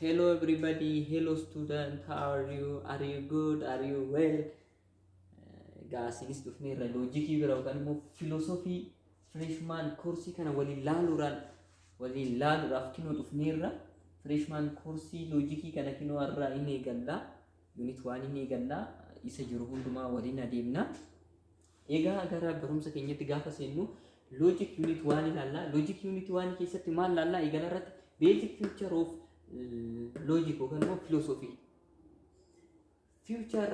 Hello everybody, hello student, how are you? Are you good? Are you well? Egaa asinis dhufnee irra loojikii bira yookaan immoo filoosofii freshman koorsii kana waliin laaluudhaan waliin laaluudhaaf kinoo dhufneerra. Freshman koorsii loojikii kana kinoo har'aa hin eegalla. Unit waan hin eegalla. Isa jiru hundumaa waliin adeemna. Egaa gara barumsa keenyatti gaafa seennu logic unit waan ilaalla. Logic unit waan keessatti maal ilaalla? Eegala irratti basic future of logic yookaan immoo philosophy. Future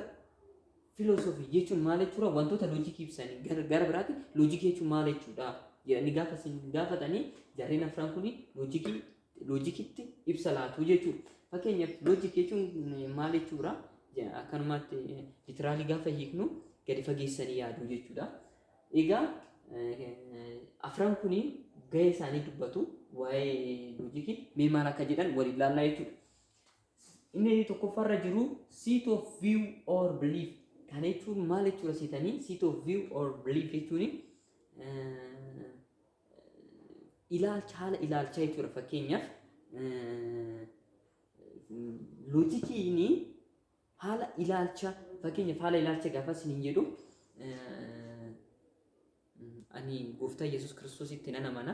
philosophy jechuun maal jechuudha? Wantoota logic ibsanii gara gara biraatti logic jechuun maal jechuudha? jedhanii gaafa isin gaafatanii jarreen afran kun logic loojikitti ibsa laatu jechuudha. Fakkeenyaaf loojik jechuun maal jechuudha? Akkanumatti litiraalii gaafa hiiknu gadi fageessanii yaaduu jechuudha. Egaa afran kuni gahee isaanii dubbatu waa'ee loojikii mee maal akka jedhan waliin laallaa jechuudha. Inni tokkoffaarra jiru seat of view or belief kana jechuun maal jechuudha seetanii seat of view or belief jechuun ilaalcha haala ilaalchaa jechuudha fakkeenyaaf loojikiin haala ilaalcha fakkeenyaaf haala ilaalcha gaafa isiniin jedhu ani gooftaa Yesuus Kiristoositti nan amana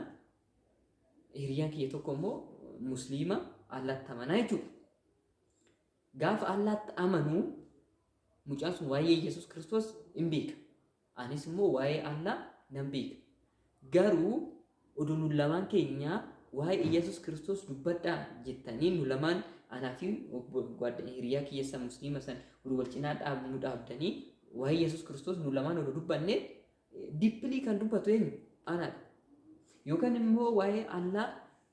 hiriyaan kiyya tokko immoo musliima Allaatti amanaa jechuudha. Gaafa Allaatti amanu mucaan sun waa'ee Yesuus Kiristoos hin beeka. Anis immoo waa'ee Allaa nan beeka. Garuu odoo nu lamaan keenya waa'ee Iyyasuus Kiristoos dubbadhaa jettanii nu lamaan anaa fi hiriyaa kiyya san musliima san odoo wal cinaa nu dhaabdanii waa'ee Iyyasuus Kiristoos nu lamaan odoo dubbanne dippilii kan dubbatu eenyu? Anaadha. Yookaan immoo waa'ee Allaa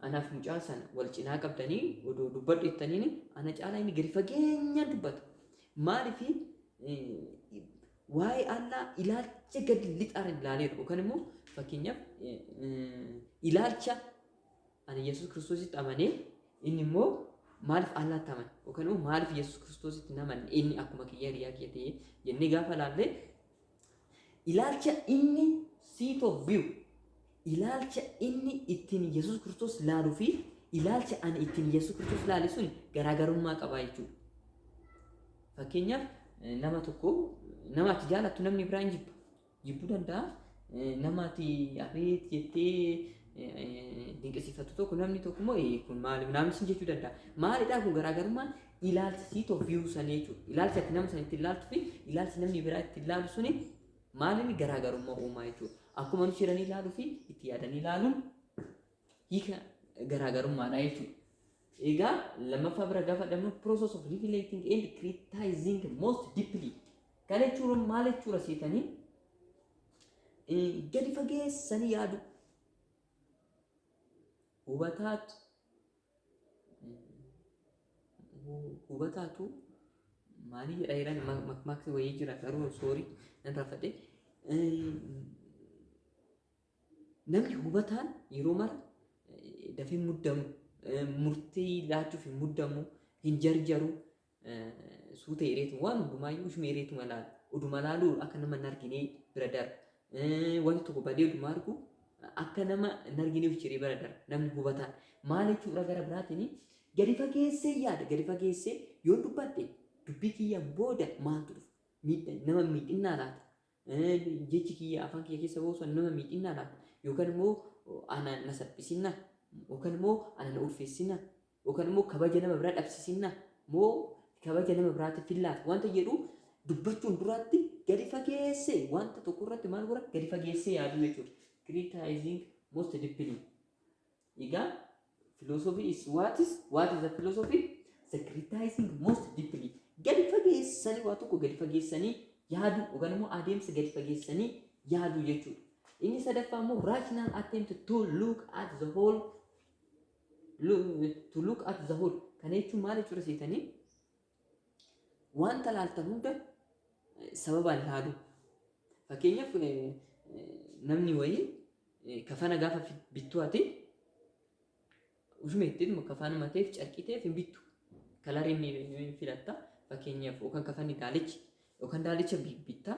anaaf mucaa sana wal cinaa qabdanii odoo dubbadhu jettaniin ana caalaa inni gadi fageenyaan dubbata. Maaliif Waa'ee Allaa ilaalcha gad lixaan ilaaleera yookaan immoo fakkeenyaaf ilaalcha ani Yesuus Kiristoositti amanee inni immoo maaliif Allaatti amane yookaan immoo maaliif Yesuus Kiristoositti hin amanne inni akkuma kiyya hiriyaa kiyya ta'ee jennee gaafa ilaalle ilaalcha inni seat of view ilaalcha inni ittiin Yesuus Kiristoos laalu fi ilaalcha ani ittiin Yesuus Kiristoos laale sun garaagarummaa qabaa jechuudha. Fakkeenyaaf eh, nama tokko nama ati jaalattu namni biraa hin jibbu. Jibbuu danda'a. Eh, Nama ati abeet jettee eh, eh, dinqisiifattu tokko namni tokko immoo "Eh, kun maali naamni sin jechuu danda'a. Maalidhaa kun garaagarummaan ilaalcha siitoo viyuu sanii jechuudha. Ilaalcha ati nama sana ittiin laaltu fi ilaalchi namni biraa ittiin laalu suni Maaliin garaagarummaa uumaa jechuudha. Akkuma nuti jedhanii ilaaluu fi itti yaadanii ilaaluun hiika garaagarummaadha jechuudha. Egaa lammaffaa bira gaafa dhabnu process of reflecting and criticizing most deeply. Kana jechuun maal jechuudha seetanii gadi fageessanii yaadu. Hubataatu hubataatu maalii jedha jedhan makmaaksi wayii jira garuu soorii nan rafadhe namni hubataan yeroo mara dafee muddamu murtii laachuuf hin muddamu hin jarjaru suuta hireetu waan hundumaayyuu ishuma hireetuma laala. Uduma laaluu akka nama hin arginee bira darba. Wanti tokko badee uduma argu akka nama hin arginee of ciree bira darba. Namni hubataan maal jechuudha gara biraatiin gadi fageessee yaada gadi fageessee yoon dubbadhe dubbii kiyyaan booda maaltu dhufa miidha nama miidhinnaa laata Jechi kiyya afaan kiyya keessa ba'u san nama miidhinnaa laata? Yookaan immoo ana na salphisinnaa? Yookaan immoo ana na ulfeessinnaa? Yookaan immoo kabaja nama biraa dhabsisinnaa? Moo kabaja nama biraatiif hin laatu? Wanta jedhu dubbachuun duraatti gadi fageessee wanta tokko irratti maal godha? Gadi fageessee yaaduu jechuudha. Criticizing most deeply. Egaa philosophy is what is what is the philosophy? Secretizing most deeply. Gadi fageessanii waa tokko gadi fageessanii yaaduu yookaan immoo adeemsa gadi fageessanii yaaduu jechuudha. Inni sadaffaa immoo rational attempt to look at the whole lo- to look at the whole. Kana jechuun maal jechuudha seetanii? Wanta laaltan hunda sababaan laaluu. Fakkeenyaaf namni wayii kafana gaafa bittu ati ushuma ittiin kafaanuma ta'eef carqii ta'eef hin bittu. Kalarii ni filatta. Fakkeenyaaf yookaan kafanni daalichi yookaan daalicha bitta.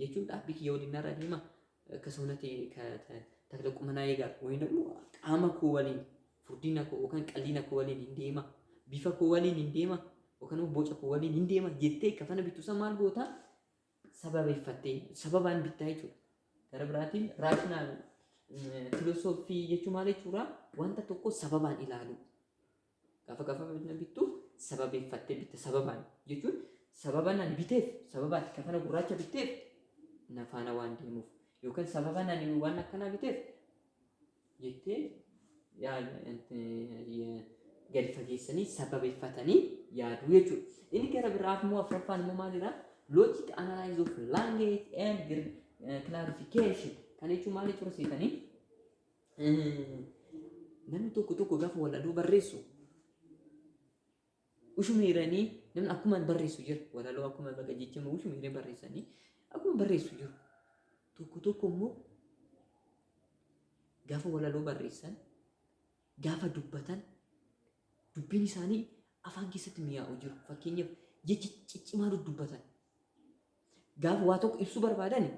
jechuun dhaabbii kiyya waliin narra deema akka soonati takla qumanaa eegaa wayii namni qaama koo waliin furdina koo yookaan qalliina koo waliin hin deema bifa koo waliin hin deema yookaan immoo boca koo waliin hin deema jettee kafana bittu san maal goota sababeeffattee sababaan bittaa jechuudha. Gara biraatiin raashinaal filosoofii jechuun maal jechuudha wanta tokko sababaan ilaaluu. Gaafa gaafa na bittu sababeeffattee bitta sababaan jechuun sababa nan biteef sababa ati kafana gurraacha bitteef na faana waan deemuuf yookaan sababa nan waan akkanaa biteef jettee gadi fageessanii sababeeffatanii yaaduu jechuudha. Inni gara biraaf immoo afraffaan immoo maalidha? Logic analysis of language and clarification kan jechuun maal jechuudha seetanii? Namni tokko tokko gaafa walaloo barreessu ushuma hiranii namni akkuma barreessu jira walaloo akkuma baga jecha ushuma hiranii barreessanii akkuma barreessu jiru tokko tokko immoo gaafa walaloo barreessan gaafa dubbatan dubbiin isaanii afaan keessatti mi'aawu jiru fakkeenyaaf jecha ciccimaa dubbatan Gaafa waa tokko ibsuu barbaadani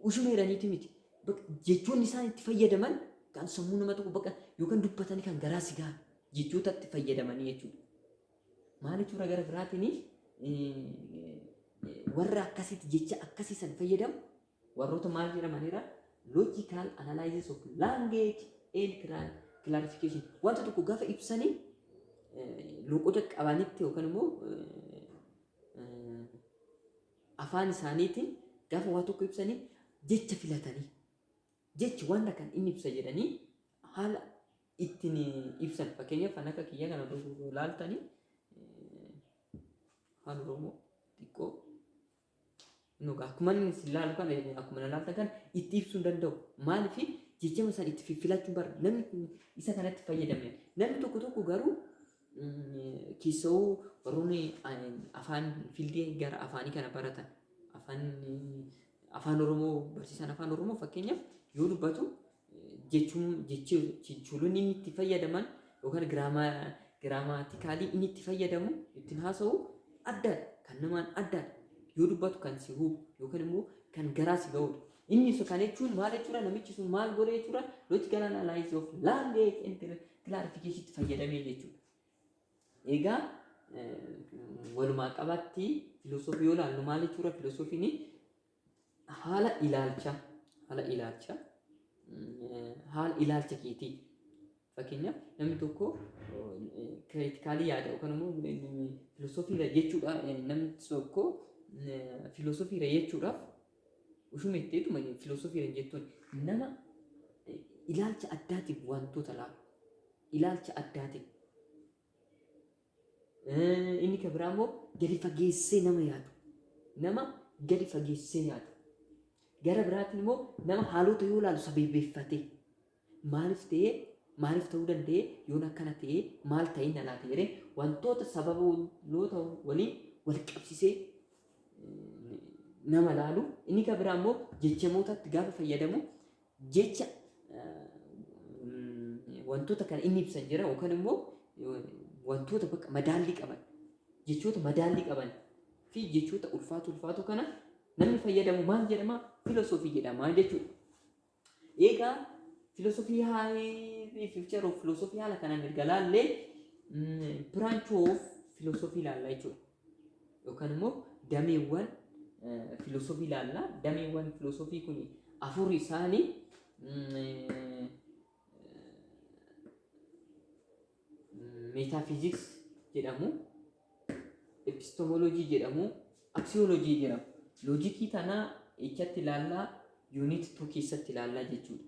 ushuma jedhaniiti miti. Bak- Jechoonni isaan itti fayyadaman kan sammuu nama tokko bakka yookaan dubbatanii kan garaa si gahan jechoota itti fayyadamanii jechuudha. Maal jechuudha gara biraatiin warra akkasiitti jecha akkasii san fayyadamu warroota maal jedhamanidha? Logical analysis of language and cla- clarification. Wanta tokko gaafa ibsanii eh, loqoda qabanitti yookaan immoo eh, afaan isaaniitiin gaafa waa tokko ibsanii jecha filatanii jechi wanta kan inni ibsa jedhanii haala ittiin ibsan fakkeenyaaf kan akka kiyya kana dogogoo laaltanii afaan oromoo xiqqoo No, akkuma inni isin laalu kana, eh, akkuma na laaltan kana itti ibsuu hin danda'u. Maaliif jijjama sana itti fiffilachuu bara. Namni kun isa kanatti fayyadame. Namni tokko tokko garuu mm, keessoo warroonni eh, afaan fiildii gara afaanii kana baratan afaan eh, afaan Oromoo barsiisaan afaan Oromoo fakkeenyaaf yoo dubbatu jechuun jechi jechoolonni inni itti fayyadaman yookaan giraamaa giraamaatikaalii inni itti fayyadamu ittiin haasa'u addaadha kan namaan addaadha yoo dubbatu kan si hubu yookaan immoo kan garaa si ga'udha. Inni isa kana jechuun maal jechuudha namichi sun maal godhe jechuudha logical analysis of language and clarification itti fayyadamee jechuudha. Egaa eh, walumaa qabatti filosoofii yoo ilaallu maal jechuudha filosofiin haala ilaalcha haala ilaalcha eh, haala ilaalcha keetii fakkeenyaaf namni tokko kiritikaalii yaada yookaan immoo filoosofiirra jechuudha eh, namni tokko eh, filoosofiirra jechuudhaaf ushuma itteetuma filoosofiirra jettuun nama eh, ilaalcha addaatiin wantoota laalu ilaalcha addaatiin Inni kan biraa immoo gadi fageessee nama yaadu. Nama gadi fageessee yaadu. Gara biraatiin immoo nama haalota yoo ilaalu sabeebbeeffatee maaliif ta'ee maaliif ta'uu danda'ee yoon akkana ta'ee maal ta'ee na laata jedhee wantoota sababoota waliin wal qabsisee nama laalu. Inni kan biraa immoo jechamootatti gaafa fayyadamu jecha wantoota kana inni ibsan jira yookaan immoo wantoota bakka madaallii qaban jechoota madaallii qaban fi jechoota ulfaatu ulfaatu kana namni fayyadamu maal jedhama filosoofii jedhama jechuudha. Egaa filosoofii haalee fiichar of filosoofii haala kanaan erga laallee branch of filosoofii ilaalla jechuudha. yookaan immoo dameewwan filoosofii ilaalla. Dameewwan filoosofii kun afur isaanii meetaafiiziks jedhamu, epistemoloojii jedhamu, aksiyooloojii jedhamu. Loojikii tanaa echatti ilaallaa yuuniit tuu keessatti ilaallaa jechuudha.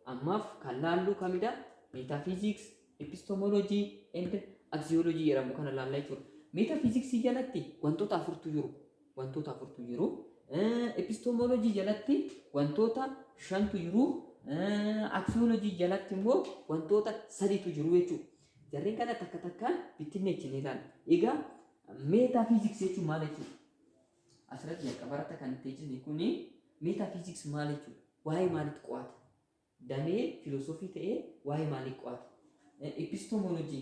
Ammaaf kan laalluu kamidha? Meetaafiiziks, Epistemology and Axiology jedhamu kana ilaalla jechuudha. Metaphysics jalatti wantoota afurtu jiru. Wantoota afurtu jiru. Epistemology jalatti wantoota shantu jiru. Axiology jalatti immoo wantoota sadiitu jiru jechuudha. Jarreen kana takka takkaan bittinneechi ni ilaalla. Egaa metaphysics jechuun maal jechuudha? Asirratti jalqabarratti kan itti jenne kuni metaphysics maal jechuudha? Waa'ee maalitti qo'ata? damee filosoofii ta'ee waa'ee maalii qo'ata? Epistemology,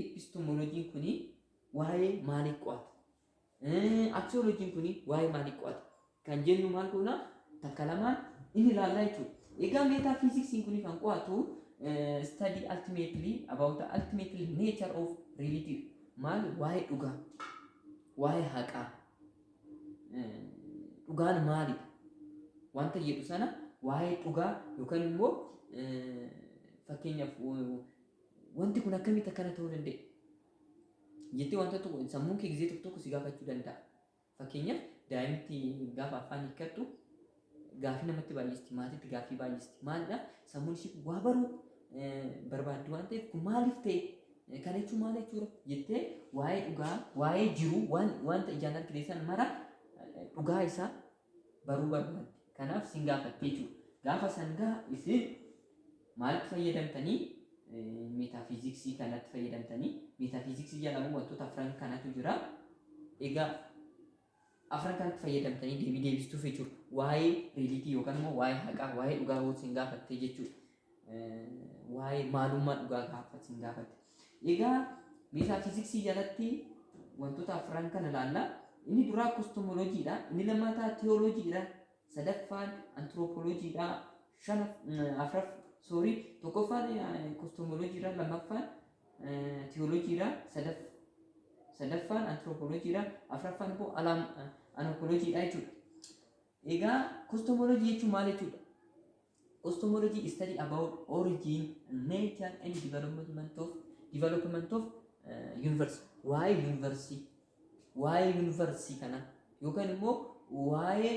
Epistemology kuni waa'ee maalii qo'ata? Axiology kuni waa'ee maalii qo'ata? Kan jennu maal goona? Takka lamaan inni ilaallaa jechuudha. Egaa metaphysics kuni kan qo'atu study ultimately about the ultimately nature of reality maal waa'ee dhugaa waa'ee haqaa dhugaan maalidha? Wanta jedhu sana waa'ee dhugaa yookaan immoo fakkeenyaaf wanti kun akkamitti akkana ta'uu danda'e? Jettee wanta tokko sammuun kee gizee tokko tokko si gaafachuu danda'a. Fakkeenyaaf daa'imti gaafa afaan hiikkattu Gaaffii namatti baay'isti, maatiitti gaaffii baay'isti. Maalidha? Sammuun ishii waa baruu barbaaddi waan ta'eef kun maaliif ta'e? Kana jechuun maal jechuudha? Jettee waa'ee dhugaa, waa'ee jiruu, waan wanta ijaan argitan mara dhugaa isaa baruu barbaaddi. Kanaaf sin gaafatti jechuudha. Gaafa san gaa isin maalitti fayyadamtanii meetaafiiziksii kanatti fayyadamtanii meetaafiiziksii jedhamu wantoota afran kanatu jira. Egaa Afran kanatti fayyadamtanii deebii deebistuu feature waa'ee riilitii yookaan immoo waa'ee haqaa waa'ee dhugaa hoo sin gaafattee jechuudha. Waa'ee maalummaa dhugaa gaafa sin gaafatte. Egaa meeshaa fiiziksii jalatti wantoota afran kana ilaalla. Inni duraa kostomoloojiidha. Inni lammataa teewooloojiidha. Sadaffaan antiroopoloojiidha. Shanaf afraf soorii tokkoffaan kostomoloojiidha. Lammaffaan tiyoolojiidha. Sadaffaan antiroopoolojiidha. Afraffaan immoo alaam anoopoolojiidha jechuudha. Egaa kostomoolojii jechuun maal jechuudha? Kostomoolojii is study about origin, nature and development of development of universe. Waa'ee yuunivarsii, waa'ee yuunivarsii kana yookaan immoo waa'ee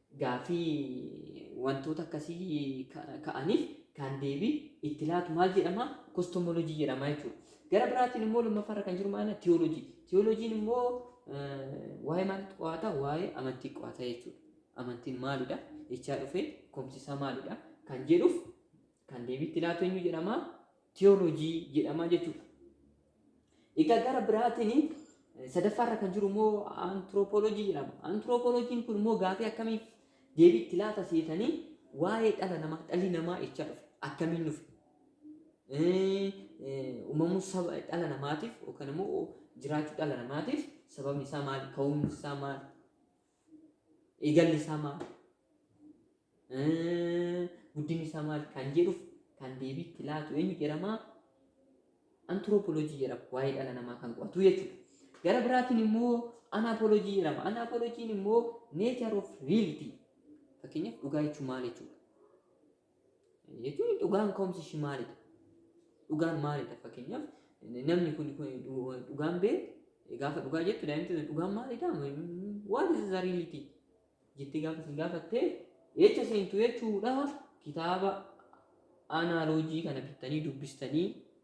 Gaaffii wantoota akkasii ka'aniif kan deebii itti laatu maal jedhama? Kostomolojii jedhama jechuudha. Gara biraatiin immoo lammaffaa irra kan jiru maal? Tiyoolojii. Tiyoolojiin immoo waa'ee maal qo'ata? Waa'ee amantii qo'ata jechuudha. Amantiin maalidha? Ichaa dhufee komsisaa maalidha? Kan jedhuuf Kan deebii itti laatu eenyu jedhama? Tiyooloojii jedhama jechuudha. Egaa gara biraatiin sadaffaa irra kan jiru immoo antiroopooloojii jedhama. Antiroopooloojiin kun immoo gaafii akkamiif deebii itti laata seetanii waa'ee dhala namaa dhalli namaa echaa dhufe akkamiin dhufe uumamuu saba dhala namaatiif yookaan immoo jiraachuu dhala namaatiif sababni isaa maali ka'umsi isaa maali eegalli isaa maal guddinni isaa maal kan jedhuuf kan deebii itti laatu eenyu jedhama antiroopolojii jedhama waa'ee dhala namaa kan qo'atu jechuudha. Gara biraatiin immoo anaapolojii jedhama. Anaapolojiin immoo nature of reality fakkeenyaaf dhugaa jechuun maal jechuudha. jechuun dhugaan ka'umsi ishii maalidha? Dhugaan maalidha? Fakkeenyaaf namni kun dhugaan bee gaafa dhugaa jettu daa'imti sun dhugaan maalidha? What is the reality? jettee gaafa isin gaafattee jecha seentu jechuudha kitaaba anaaloojii kana bittanii dubbistanii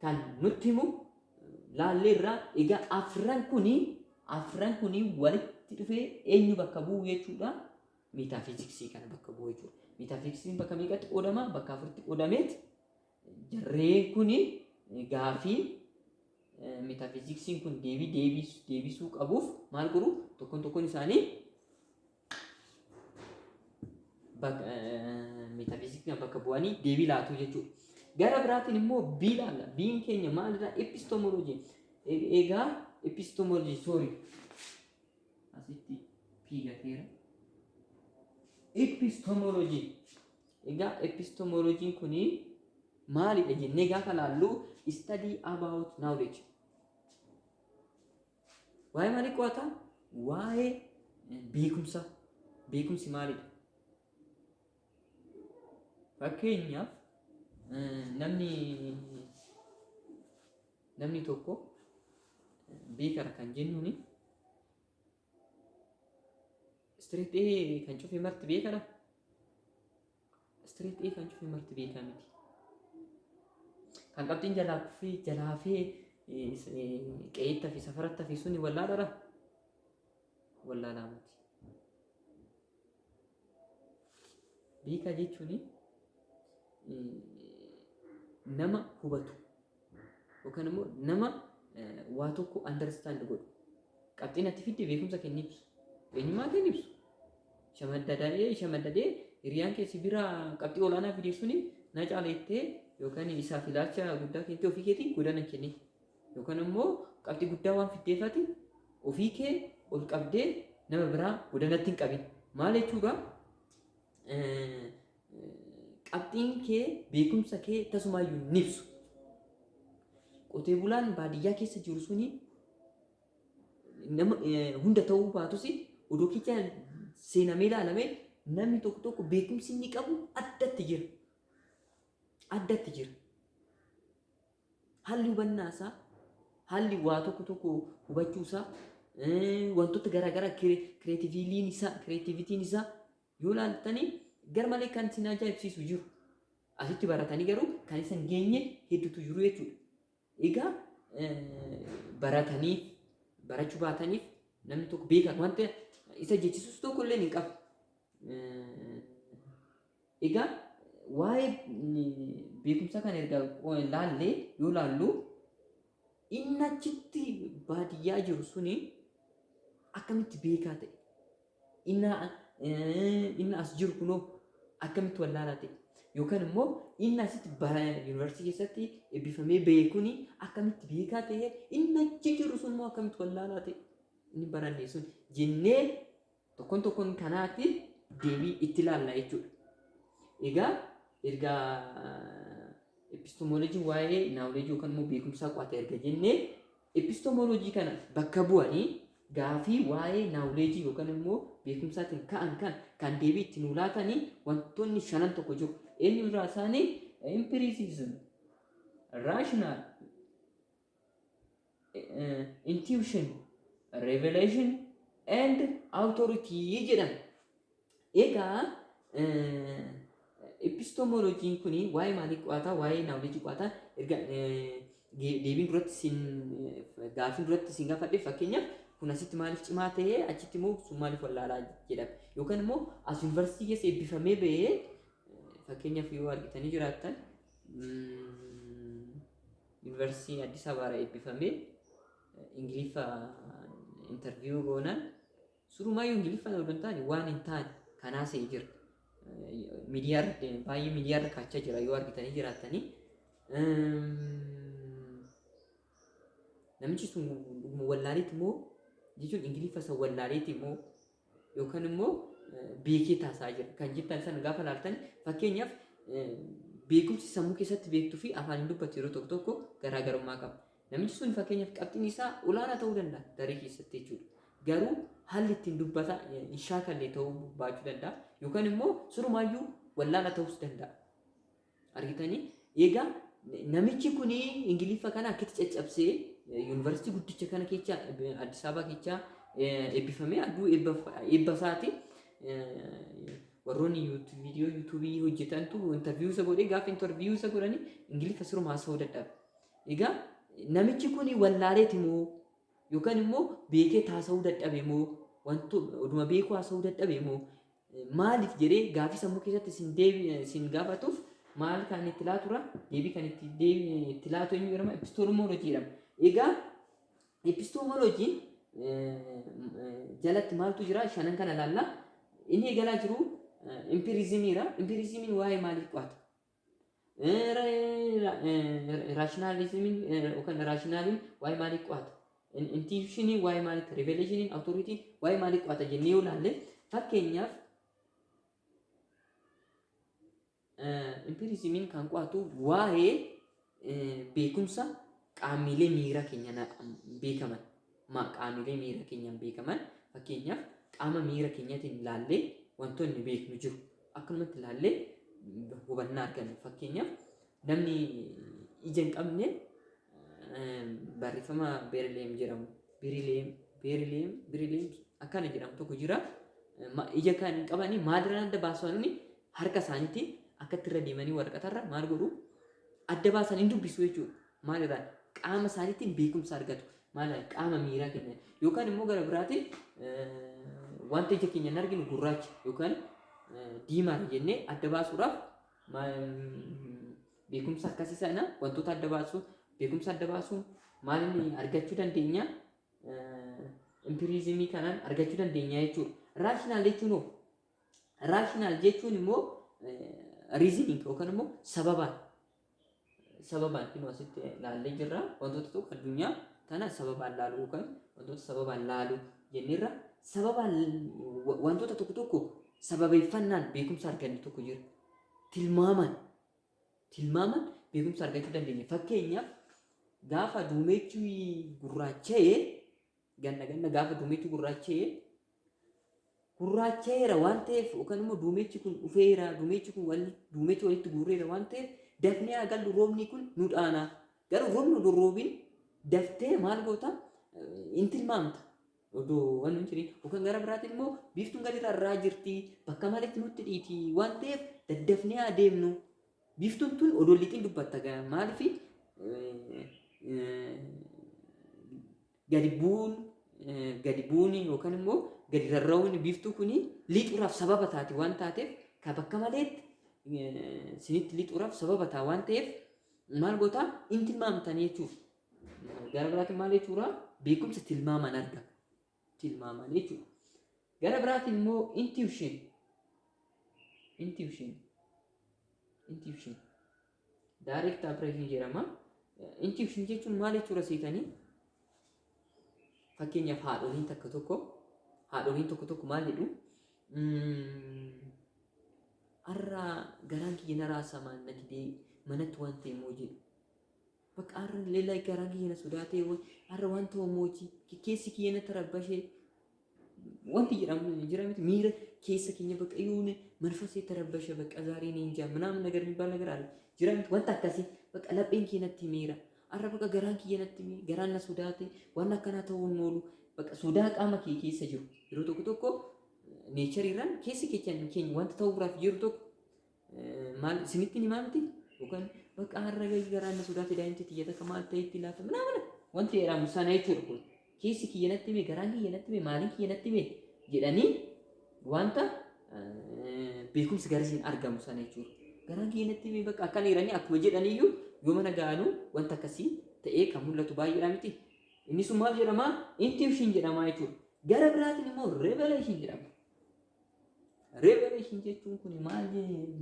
kan nutti himu laalleerra. Egaa afran kuni afran kuni walitti dhufee eenyu bakka bu'u jechuudha? Miitaafiiziksii kana bakka bu'u jechuudha. Miitaafiiziksiin bakka meeqatti qoodama? Bakka afuritti qoodameet jarreen kuni gaafii miitaafiiziksiin kun deebii deebisuu qabuuf maal godhu? Tokkoon tokkoon isaanii Bak- eh, Metafiziksii bakka bu'anii deebii laatuu jechuudha. Gara biraatiin immoo B laalla. B'n keenya maalirraa? Epistemology. E- Egaa epistemology sorry. Asitti P gateera. Epistemology. Egaa epistemology kuni maalidha jennee gaafa laallu study about knowledge Waa'ee maalii qo'ataa? Waa'ee beekumsaa. Beekumsi maalidha? Fakkeenyaaf namni namni tokko beekara kan jennuuni istireetii kan cufe marti beekara Straight A kan cufe marti beekaa miti. Kan qabxiin jalaa kuffee jalaa hafee qe'eetti hafe safaratti hafe suni wallaaladha. Wallaalaa miti. Beekaa jechuun nama hubatu yookaan immoo nama waa tokko understand godhu. Qabxiin ati fidde beekumsa kee hin ibsu. Eenyummaa kee hin ibsu. Shamaddada'ee shamaddadee hiriyaan kee si bira qabxii olaanaa fidee suni na caaleettee yookaan isaaf ilaalcha guddaa keettee ofii keetiin godana kennite. Yookaan immoo qabxii guddaa waan fiddeefati ofii kee ol qabdee nama biraa godanatti hin qabin. Maal jechuudha? Qabxiin kee beekumsa kee tasumaayyuu hin ibsu. Qotee bulaan baadiyyaa keessa jiru suni nama eh, hunda ta'uu baatus odoo kecha seenamee ilaalamee namni tokko tokko beekumsi inni qabu addatti jira. Addatti jira. Haalli hubannaa isaa, haalli waa tokko tokko hubachuu isaa, eh, wantoota garaagaraa kireetiviiliin isaa, kireetivitiin isaa yoo ilaaltanii garmalee kan isin ajaa'ibsiisu jiru. Asitti baratanii garuu kan isin geenye hedduutu jiru jechuudha. Egaa barataniif barachuu baataniif namni tokko beekan wanta isa jechisus tokko illee hin qabu. Egaa waa'ee beekumsa kana erga laallee yoo laallu Inni achitti baadiyyaa jiru suni akkamitti beekaa ta'e? Inni eh, inni as jiru kunoo akkamitti wallaalaa ta'e? Yookaan immoo inni asitti bara yuunivarsiitii keessatti eebbifamee ba'e kuni akkamitti beekaa ta'e? Inni achi jiru sun immoo akkamitti wallaalaa ta'e? Inni barannee sun jennee Tokkoon tokkoon kanaatti deebii itti laalla jechuudha. Egaa erga epistemology waa'ee knowledge yookaan immoo beekumsaa qo'ate erga jennee epistemology kana bakka bu'anii gaafii waa'ee knowledge yookaan immoo beekumsaatiin ka'an kan kan deebii itti nuu laatanii wantoonni shanan tokko jiru. Eenyu irraa isaanii empiricism, rational, intuition, revelation and authority jedhama. Egaa epistemologiin kun waa'ee maalii qo'ata? Waa'ee knowledge qo'ata. Erga eh, ge- deebiin duratti sin eh, gaafiin duratti sin gaafadhe fakkeenyaaf kun asitti maaliif cimaa ta'ee achitti immoo sun maaliif wallaalaa jedhama. Yookaan immoo as yuunivarsiitii keessa eebbifamee ba'ee eh, fakkeenyaaf yoo argitanii jiraattan mm, Yuunivarsiitii Addis Ababaarra eebbifamee Ingiliffaan interviyuu goonaan surumaayyuu Ingiliffaan odoo hin taane waan hin taane kan haasa'e jira. Miidiyaarra deeme baay'ee miidiyaarra kaachaa jira yoo argitanii jiraattanii. Namichi sun dhuguma wallaaleetti moo jechuun Ingiliffa isa wallaaleetti moo yookaan immoo beekee taasaa jira kan jettan sana gaafa laaltan fakkeenyaaf beekumsi sammuu keessatti beektuu fi afaaniin dubbatu yeroo tokko tokko garaagarummaa qaba. Namichi sun fakkeenyaaf qabxiin isaa olaanaa ta'uu danda'a daree keessatti jechuudha. Garuu haalli ittiin dubbata hin shaakalle ta'uu baachuu danda'a yookaan immoo surumaayyuu wallaala ta'uus danda'a. Argitanii? Egaa namichi kun Ingiliffa kana akkitti caccabsee yuunivarsiitii guddicha kana kecha Addis Ababa kecha eebbifamee adduu eebba isaati warroonni viidiyoo yuutuubii hojjetantu intarviiyuu isa godhee gaafa intarviiyuu isa godhanii Ingiliffa siruma haasa'uu dadhabe. Egaa namichi kun wallaaleeti moo Yookaan immoo beekee taasa'uu dadhabe moo wantu oduma beekuu haasa'uu dadhabe moo maaliif jedhee gaafii sammuu keessatti isin deebi isin gaafatuuf maal kan itti laatura deebii kan itti deebi itti laatu eenyu jedhama epistemology jedhama. Egaa epistemology jalatti maaltu jira shanan kana laalla inni eegalaa jiru empirizimiira empirizimiin waa'ee maalii qo'ata Raashinaalizimiin yookaan raashinaaliin waa'ee maalii qo'ata? Intiiyuushinii waa'ee maaliiti? Riveeleeshiniin awutooriitii waa'ee maalii qo'ata jennee yoo ilaalle fakkeenyaaf impiiriizimiin kan qo'atu waa'ee Beekumsa qaamiilee miira keenyan beekaman ma qaamiilee miira keenyan beekaman fakkeenyaaf qaama miira keenyatiin laallee wantoonni beeknu jiru akkanumatti laallee hubannaa arganna fakkeenyaaf namni ija hin qabne barreeffama beerileem jedhamu birileem beerileem birileem akkana jedhamu tokko jira ija kan hin qabani maalirraa adda baasuu harka isaaniitiin akkatti irra deemanii waraqatarra maal godhu adda baasan hin dubbisu jechuudha. Maal irraa qaama isaaniitiin beekumsa argatu. Maal qaama miiraa keenya yookaan immoo gara biraatiin wanta ija keenya hin arginu gurraacha yookaan diimaa jennee adda baasuudhaaf beekumsa akkasii sana wantoota adda baasuu beekumsa adda baasuu maal inni argachuu dandeenya impiriizimii kanaan argachuu dandeenya jechuudha. Raashinaal jechuun hoo Raashinaal jechuun immoo riiziniin yookaan immoo sababaan sababaan kun asitti laallee jirra wantoota tokko addunyaa kana sababaan laaluu yookaan wantoota sababaan laaluu jenneerra sababaan wa- wantoota tokko tokko sababeeffannaan beekumsa arganne tokko jira tilmaamaan tilmaamaan beekumsa argachuu dandeenya fakkeenyaaf gaafa duumeechi gurraacha'e Ganna ganna gaafa duumechi gurraacha'e gurraacha'eera waan ta'eef yookaan immoo duumechi kun dhufeera duumechi kun wal duumechi walitti guurreera waan ta'eef dafnee haa gallu roobni kun nu dhaana garuu roobni odoo roobiin daftee maal goota hin tilmaamta odoo waan hin jirin yookaan gara biraatiin immoo biiftuun gadi rarraa jirti bakka malitti nutti dhiiti waan ta'eef daddafnee haa deemnu biiftuun tun odoo lixiin dubbatta maaliif Gadi bu'uun gadi bu'uun yookaan immoo gadi rarra'uun biiftuu kun lixuudhaaf sababa taati waan taateef ka bakka maleetti sinitti lixuudhaaf sababa taa waan ta'eef maal gootaa hin tilmaamtan jechuuf gara biraatiin maal jechuudha beekumsa tilmaamaan arga tilmaamaan jechuudha gara biraatiin immoo intuition intuition intuition Direct application jedhama. Intuition jechuun maal jechuudha seetanii? Fakkeenyaaf haadholiin takka tokko haadholiin tokko tokko maal jedhu? Har'a garaan kiyya na raasamaan na didee manatti waan ta'e moo jedhu. Bakka har'a leellaa garaan kiyya na sodaatee har'a waan ta'u mootii keessi kiyya na tarabbashee wanti jedhamu jira miti miira keessa keenya bakka yoone manfasee tarabbasha bakka zaarii ni injaa minaamin nagar mibbaa nagar aale jira miti wanta akkasii bakka lapheen kee natti miira arra bakka garaan kiyya natti miira garaan na sodaate waan akkanaa ta'uu hin oolu bakka sodaa qaama kee keessa jiru yeroo tokko tokko neechariirraan keessa keenya keenya wanta ta'uuraaf jiru tokko Maal isinitti himaa miti yookaan bakka har'a gahii garaan na sodaate daa'imti tiyya takka maal ta'etti laata minaa mana wanti jedhamu sana jechuudha kun keessi kiyya natti hime garaan kiyya natti hime maaliin kiyya natti hime jedhanii wanta beekumsi garasiin argamu sana jechuudha. Garaan kiyya natti hime bakka akkan eeranii akkuma jedhaniyyuu yoo mana ga'anuu wanta akkasii ta'ee kan mul'atu baay'eedha miti. Inni sun maal jedhama? Intuition jedhama jechuudha. Gara biraatiin immoo revelation jedhama. Revelation jechuun kun maal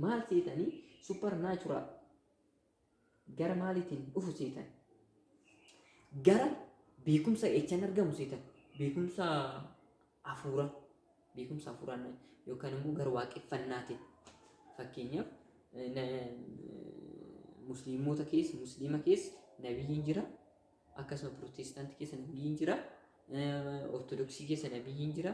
maal seetanii supernatural gara maaliitiin dhufu seetan gara beekumsa echan argamu seetan beekumsa hafuura beekumsa hafuuraan yookaan immoo gara waaqeffannaatiin fakkeenyaaf eh, na- musliimota keessa musliima keessa nabiyyiin jira akkasuma pirootestaantii keessa nabiyyiin jira eh, ortodoksii keessa nabiyyiin jira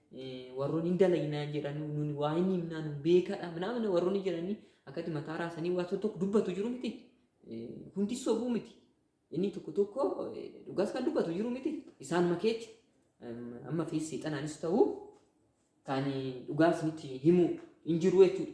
warroon hin dalaynaa jedhanii nuni waa hin himnaa nun beekadha minaamina warroonni jedhanii akkatti mataa raasanii waa tokko dubbatu jiru miti hundi sobuu miti inni tokko tokko dhugaas kan dubbatu jiru miti isaan makeetti amma fi seexanaanis ta'uu kan dhugaa isinitti himu hin jiru jechuudha.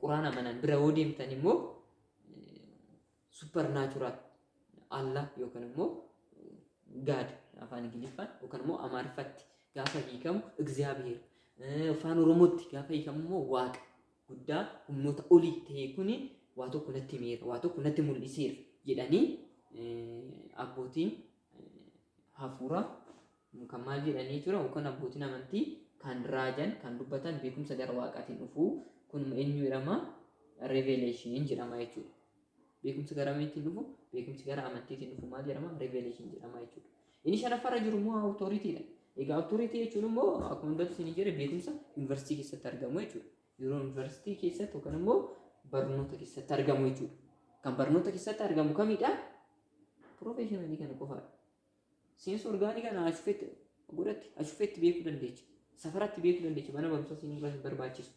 quraan amanan bira yoo deemtan immoo super natural Allah yookaan immoo God afaan Ingiliffaan yookaan immoo Amaariffatti gaafa hiikamu Egzaabiheer afaan Oromootti gaafa hiikamu immoo Waaqa guddaa humnoota olii ta'e kuni waa tokko natti himeera waa tokko natti mul'iseera jedhanii abbootiin hafuuraa Kun kan maal jedhanii jechuudha? Yookaan abbootiin amantii kan raajan, kan dubbatan beekumsa gara waaqaatiin dhufu. Kun eenyu jedhama? Revelation jedhama jechuudha. Beekumsa gara mamiitiin dhufu? Beekumsi gara amantiitiin dhufu maal jedhama? Revelation jedhama jechuudha. Inni shanaffaarra jiru immoo authority dha. Egaa authority jechuun immoo akkuma hundatti isin jedhe beekumsa yuunivarsiitii keessatti argamu jechuudha. Yeroo yuunivarsiitii keessatti yookaan immoo barnoota keessatti argamu jechuudha. Kan barnoota keessatti argamu kamidha? Professionalii kana qofaadha. Seensa orgaanii kana ashufeetti godhatti ashufeetti beekuu dandeecha. Safaratti beekuu dandeecha mana barumsaa siin barbaachisu.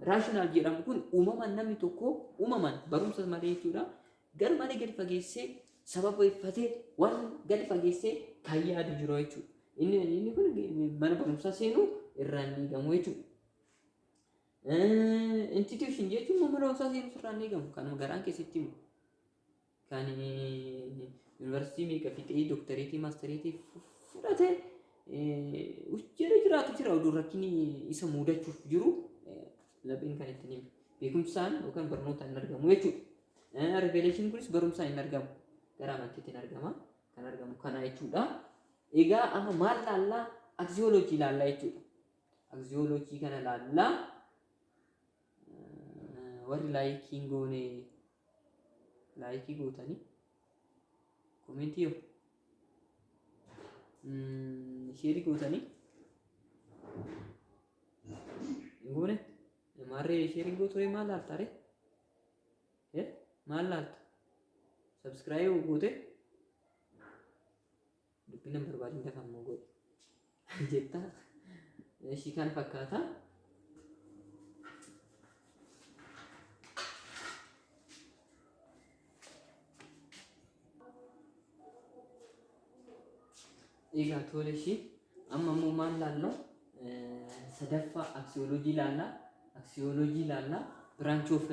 Raashinaal jedhamu kun uumamaan namni tokko uumamaan barumsa malee jechuudha. Gar malee gadi fageessee sababeeffatee waan gadi fageessee kan yaadu jiru jechuudha. Inni inni kun mana barumsaa seenuu irraa hin eegamu jechuudha. Institution jechuun mana barumsaa seenuu irraa hin eegamu kanuma garaan keessatti himu. Kan yuunivarsiitii meeqa fixee dooktareetii maastareetii fudhate hojjera jiraatu jira oduu rakkinni isa muudachuuf jiru lapheen kan ittiin himu. Beekumsaan yookaan barnootaan hin argamu jechuudha. Riveeleeshin kunis barumsaan hin argamu. Gara amantiitiin argama. Kan argamu kana jechuudha. Egaa amma maal laallaa? Aksiyooloojii laallaa jechuudha. Aksiyooloojii kana laallaa warri laayikiin goone laayikii gootanii komentii yoo mm, sheerii gootanii hin goone maarree sheerii gooturee maal laalta ree Eh, maal laalta sabskiraayib gootee dubbii nan barbaadin dafa immoo godhi jetta ishii kan fakkaata egaa tole ishii amma immoo maal laalla sadaffaa aksiyoolojii laalla aksiyoolojii laalla branch of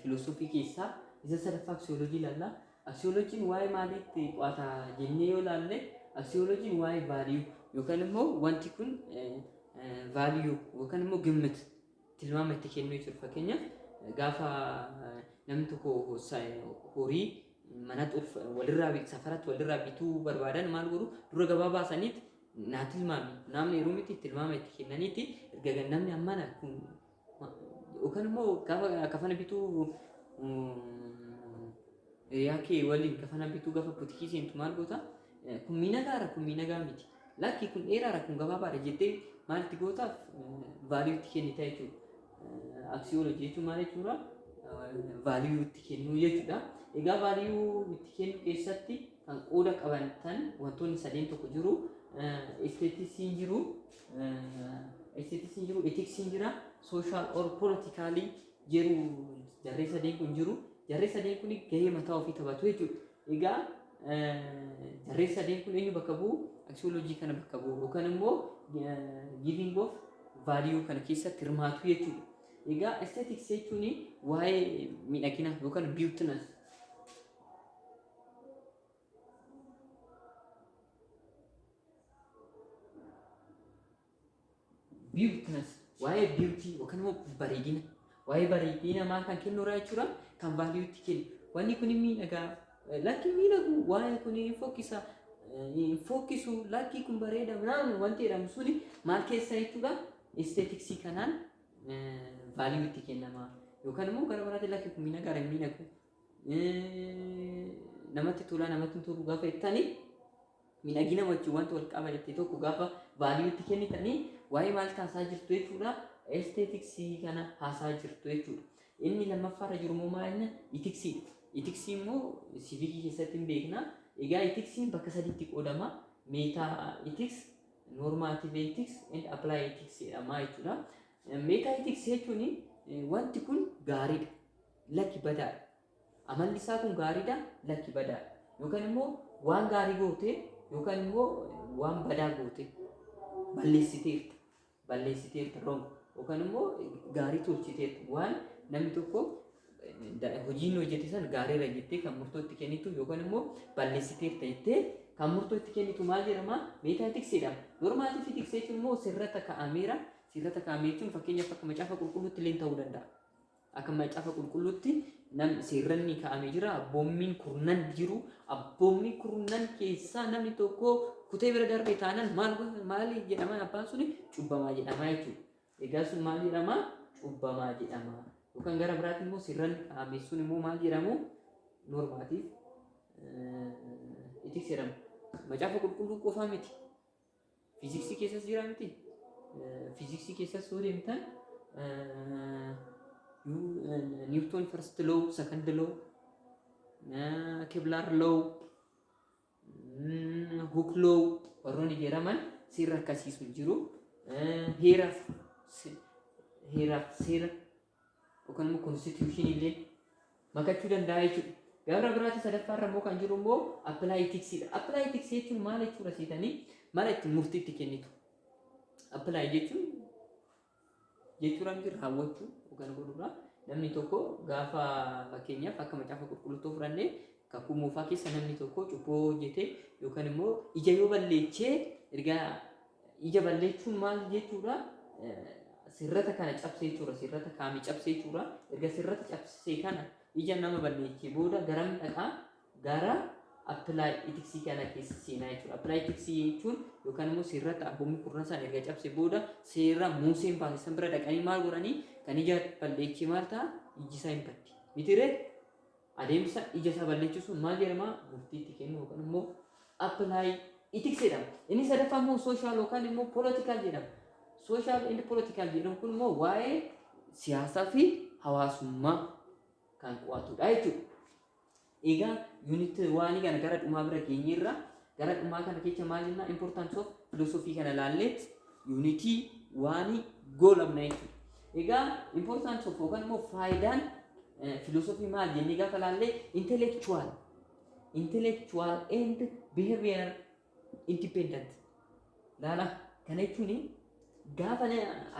filosoofii keessaa isa sadaffaa aksiyoolojii laalla Aksiyoolojiin waa'ee maaliitti qo'ata jennee yoo ilaalle aksiyoolojiin waa'ee value yookaan immoo wanti kun value yookaan immoo gimmit tilmaama itti kennuu jechuudha. Fakkeenyaaf gaafa namni tokko horii manatti ulf walirraa bit- safaratti walirraa bituu barbaadan maal godhu dura gabaa baasaniiti naa tilmaami naamni yeroo miti tilmaama itti kennaniiti erga namni ammana kun Yookaan immoo gaafa kafana bituu hiriyaa kee waliin kafana bituu gaafa butikii seentu maal goota? Kun miidhagaadha kun miidhagaa miti. Lakki kun dheeraadha kun gabaabaadha jettee maal itti gootaaf vaaliyuu itti kennita jechuudha. Aksiyoolojii jechuun maal jechuudha? Vaaliyuu itti kennuu jechuudha. Egaa vaaliyuu itti kennuu keessatti kan qooda qabantan wantoonni sadeen tokko jiru. Isteetisiin jiru. Esteetiks hin jiru, etiks hin jira, sooshaal or poolitikaalii jiru jarree sadeen kun jiru. Jarree sadeen kun gahee mataa ofii taphatu jechuudha. Egaa jarree sadeen kun eenyu bakka bu'u? Aksiyooloojii kana bakka bu'u yookaan immoo giiving of vaaliyuu kana keessatti hirmaatu jechuudha. Egaa esteetiks jechuun waa'ee miidhaginaa yookaan biwutinas Beautiness waa'ee beauty yookaan immoo bareedina waa'ee bareedina namaa kan kennu irraa jechuudha kan value itti kennu wanni kun miidhagaa eh, lakki miidhagu waa'ee kun hin fokkisa eh, hin fokkisu lakki kun bareeda naan wanti jedhamu suni maal keessa jechuudha aestheticsii kanaan eh, value itti kennama yookaan immoo gara biraatti lakki kun miidhagaa hin miidhagu namatti tolaa namatti hin tolu gaafa jettanii miidhagina wajjin wanta wal qaba jettee tokko gaafa vaaliiwutti kennitanii waa'ee maal kaasaa jirtu jechuudha esteetiksii kana haasaa jirtu jechuudha. Inni lammaffaarra jiru immoo maal jenna itiksiidha. Itiksii immoo siviikii keessatti hin beekna. Egaa itiksiin bakka sadiitti qoodama. Meetaa itiks, noormaatiiv itiks, and appilaayi itiks jedhama jechuudha. Meetaa itiks jechuun wanti kun gaariidha. Lakki badaadha. Amalli isaa kun gaariidha, lakki badaadha. Yookaan immoo waan gaarii goote yookaan immoo waan badaa goote balleessiteerta. Balleessiteerta wrong. Yookaan immoo gaarii tolchiteerta. Waan namni tokko da- hojii inni hojjete san gaariirra jettee kan murtoo itti kennitu yookaan immoo balleessiteerta jettee kan murtoo itti kennitu maal jedhama? Meetaa tiksee jedhama. Normaatii fi tiksee jechuun immoo sirrata kaa'ameera. Sirrata kaa'ame jechuun fakkeenyaaf akka macaafa qulqulluutti illee ta'uu danda'a. Akka Macaafa Qulqulluutti nam seerranni kaa'ame jira. Abboommiin kurnan jiru. Abboommii kurnan keessaa namni tokko kutee bira darbe taanaan maal godha- maali jedhamaan abbaan suni cubbamaa jedhamaa jechuudha. Egaa sun maal jedhamaa? Cubbamaa jedhamaa. Yookaan gara biraatiin immoo seerranni kaa'ame sun immoo maal jedhamu? Normaatiif itti seerama. Macaafa qulqulluu qofaa miti. Fiiziksii keessas jira miti. Fiiziksii keessas yoo deemtan Niwutoon first low, second low, Kiblaar low, Hook low warroonni jedhaman seera akkasiisu jiru. Heeraaf seera yookaan immoo konstituushinii illee makachuu danda'a jechuudha. Gabra biraatii sadaffaa irra immoo kan jiru immoo appilaayitiksiidha. Appilaayitiksii jechuun maal jechuudha seetanii mala itti murtii itti kennitu. Appilaayi jechuun jechuudha miti raawwachuu yookaan godhuudha. Namni tokko gaafa fakkeenyaaf akka macaafa qulqulluutti fudhannee kakuu moofaa keessa namni tokko cubboo hojjetee yookaan immoo ija yoo balleechee erga Ija balleessuun maal jechuudha? Sirrata kana cabsee jechuudha. Sirrata kaami cabsee jechuudha. Erga sirrata cabsee kana ija nama balleessee booda garam dhaqaa gara apply ethics kana keessa seenaa jechuudha. Apply ethics jechuun yookaan immoo sirrata abboommii kurnan sana erga cabsee booda seera Muuseen baase san bira dhaqanii maal godhanii kan ija balleessee maal ta'a? Iji isaa hin baddi. Mitiree? Adeemsa ija isaa balleechisuun maal jedhama? Murtii itti kennuu yookaan immoo apply ethics jedhama. Inni sadaffaa immoo social yookaan immoo political jedhama. Social and political jedhamu kun immoo waa'ee siyaasaa fi hawaasummaa kan qo'atudha jechuudha. Egaa unit waanii kana gara dhumaa bira geenyeerra Gara dhumaa kana kecha maal jennaa importance of philosophy kana laalleet yuunitii waanii goolabna jechuudha. Egaa importance of yookaan immoo faayidaan philosophy maal jennee gaafa laallee intellectual intellectual and behavior independent laala kana jechuun gaafa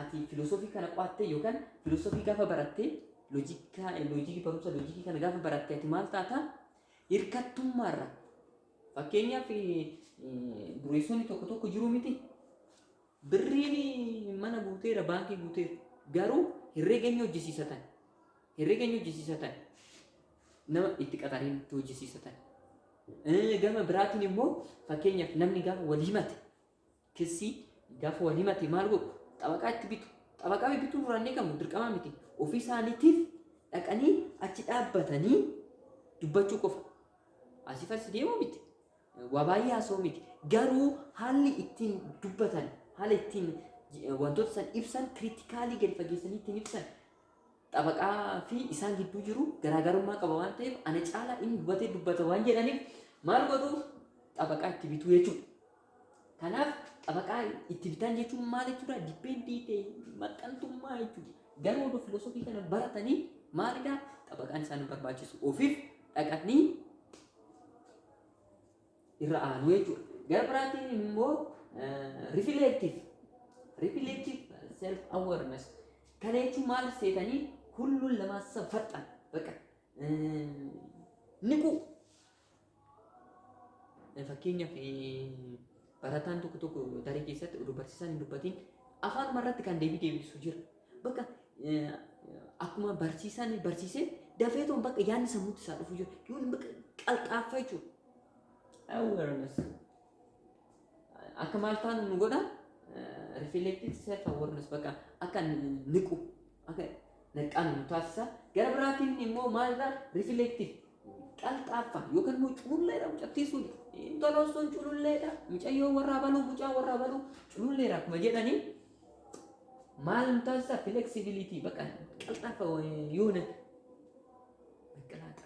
ati philosophy kana qo'attee yookaan philosophy gaafa barattee loojikii barumsa loojikii kana gaafa barattee ati maal taata hirkattummaarra Fakkeenyaaf dureessonni tokko tokko jiru miti. Birriin mana guuteera, baankii guuteera. Garuu herreega inni hojjisiisatan, herreega inni hojjisiisatan nama itti qaxareen itti hojjisiisatan. Gama biraatiin immoo fakkeenyaaf namni gaafa wal himate Kissi gafa wal himate maal godhu? Xabaqaa itti bitu. Xabaqaa bibbituun irraa hin eegamu dirqamaa miti. Ofii isaaniitiif dhaqanii achi dhaabbatanii dubbachuu qofa. Asii farsi deemuu miti. Waa baay'ee haasa'uu miti. Garuu haalli ittiin dubbatan, haala ittiin eh, wantoota san ibsan, kiritikaalii gadi fageessanii ittiin ibsan xabaqaa fi isaan gidduu jiru garaagarummaa qaba waan ta'eef ana caalaa inni hubatee dubbata waan jedhaniif maal godhu xabaqaa itti bituu jechuudha. Kanaaf xabaqaa itti bitan jechuun maal jechuudha? Dippeendii ta'e maxxantummaa jechuudha. Garuu oduu filosoofii kana baratanii maalidha? Xabaqaan isaan barbaachisu ofiif dhaqanii irra aanu jechuudha. Gara biraatiin immoo rifileektiif rifileektiif self awareness kana jechuun maal seetanii hulluun lamaa safaxan baqa niquu Fakkeenyaaf barataan tokko tokko daree keessatti oduu barsiisaan hin dubbatiin afaanuma irratti kan deebii deebisu jira. Bakka akkuma barsiisaan barsiisee dafee toon bakka yaadni sammuutti isaa dhufu jira. Yoon bakka qalxaaffa jechuudha. Awareness. akka maal taanu nu godha reflective self awareness bakka akka niqu akka naqqaan nu taasisa gara biraatiin immoo maalirra reflective qalxaaffa yookaan immoo cululleedha mucattii sun intaloo sun cululleedha mucayyoo warraa baluu mucaa warraa baluu cululleedha akkuma jedhanii maal nu taasisa flexibility bakka qalxaaffa yoona qalxaaffa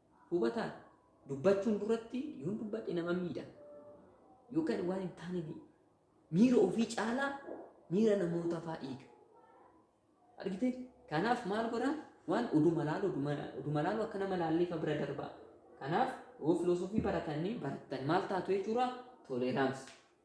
Hubataan dubbachuun duratti yoon dubbadhe nama miidha yookaan waan hin taane ni miira ofii caalaa miira namoota faa eega. Argite? Kanaaf maal godha? Waan oduma laalu oduma, oduma laalu akka nama laallee fa bira darbaa. Kanaaf yoo filoosofii baratanii barattan maal taatu jechuudha? Toleeraansi.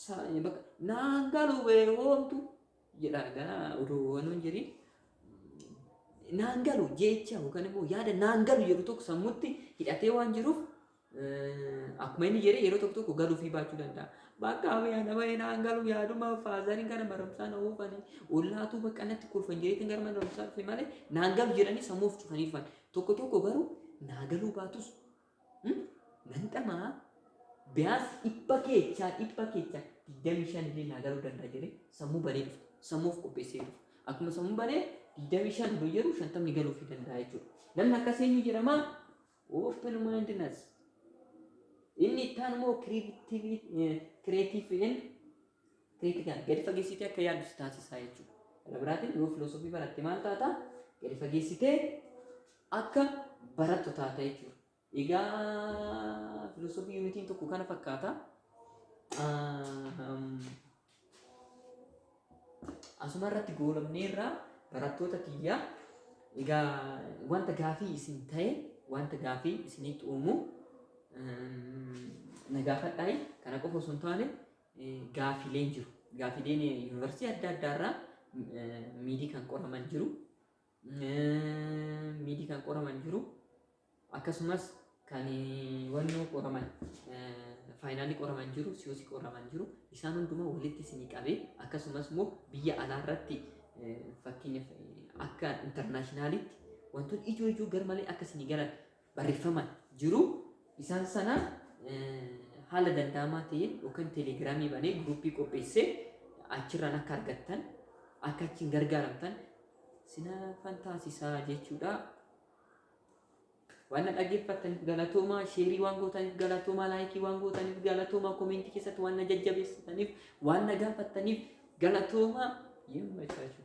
Sa- bakka naan galu bee hoomtu jedha egaa odoo waan hin jirin naan galu jecha yookaan immoo yaada naan galu jedhu tokko sammutti hidhatee waan jiruuf eh, akkuma inni jedhe yeroo tokko tokko galuu fi baachuu danda'a. Bakka yaada bahee naan galu yaaduma faazariin kana barumsaa na oofani ollaatuu bakka natti kolfan jedheetiin gara mana barumsaa dhufe malee naan galu jedhanii sammuu of cufanii dhufan. Tokko tokko garuu naa galuu baatus Nan dhama'a biyaas dhibba keechaa dhibba keechaa digdamii shan illee naa garuu danda'a jedhee sammuu banee dhufa. Sammuu of qopheessee dhufa. Akkuma sammuu banee digdamii shan nu jedhu shantamni galuufii danda'a jechuudha. Namni akkas eenyu jedhama? Open mindedness. Inni itti aanu immoo creative and Critical gadi fageessitee akka yaaddu si taasisaa jechuudha. Kana biraatiin yoo filoosofii baratte maal taata? Gadi fageessitee akka barattu taata jechuudha. Egaa filoosofii yuunitiin tokko kana fakkaata. Um, asuma irratti goolabnee irraa barattoota tiyyaa egaa wanta gaafii isin ta'e wanta gaafii isinitti uumu um, na gaafadhaa kana qofa osoo hin taane gaaffiileen jiru. Gaaffiileen yuunivarsiitii adda addaa irraa miidii kan qoraman jiru. Miidii kan qoraman jiru. Akkasumas kan wannoo qoraman faayinaalii qoraman jiru, siyosi qoraman jiru. Isaan hundumaa walitti isinii qabee akkasumas immoo biyya alaa irratti fakkeenyaaf akka intarnaashinaalitti wantoonni ijoo ijoo garmalee akka isinii galan barreffama jiru isaan sana haala danda'amaa ta'een yookaan teelegiraamii banee guruuppii qopheessee achirraan akka argattan akka achiin gargaaramtan sinaafan taasisaa jechuudha. Waan na dhaggeeffattaniif galatoomaa, sheerii waan gootaniif galatoomaa, laayikii waan gootaniif galatoomaa, koomeentii keessatti waan na jajjabeessitaniif, waan na gaafattaniif galatoomaa. Yemma jechuudha.